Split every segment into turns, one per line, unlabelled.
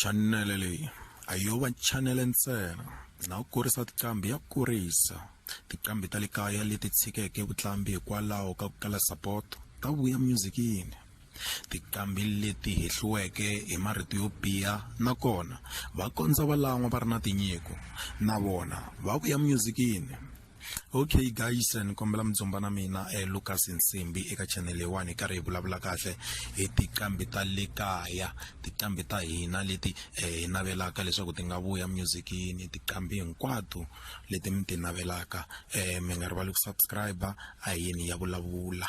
chanele leyi a yo va chanele ntsena na ku kurisa tiqambi ya kurisa tiqambi ta le kaya leti tshikeke vutlambi hikwalaho ka ku kala sapoto ta vuya myuzikini tiqambi leti hehliweke hi marito yo biha nakona va kondza va lan'wa va ri na tinyiko na vona va vuya myuzikini okay guys ni kombela mi dzumba na mina eh, lucas nsimbi eka channel leyiwani hi karhi hi vulavula kahle hi tiqambi ta le kaya tiqambi ta hina leti eh, hi navelaka leswaku ti nga vuya musicini tiqambi hinkwato leti mi ti navelaka eh, mi nga rivali ku subscribe a yini ya vulavula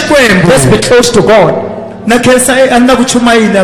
Xikwembu. Let's be close to God. Na khensa eh, a ni na ku chumayela.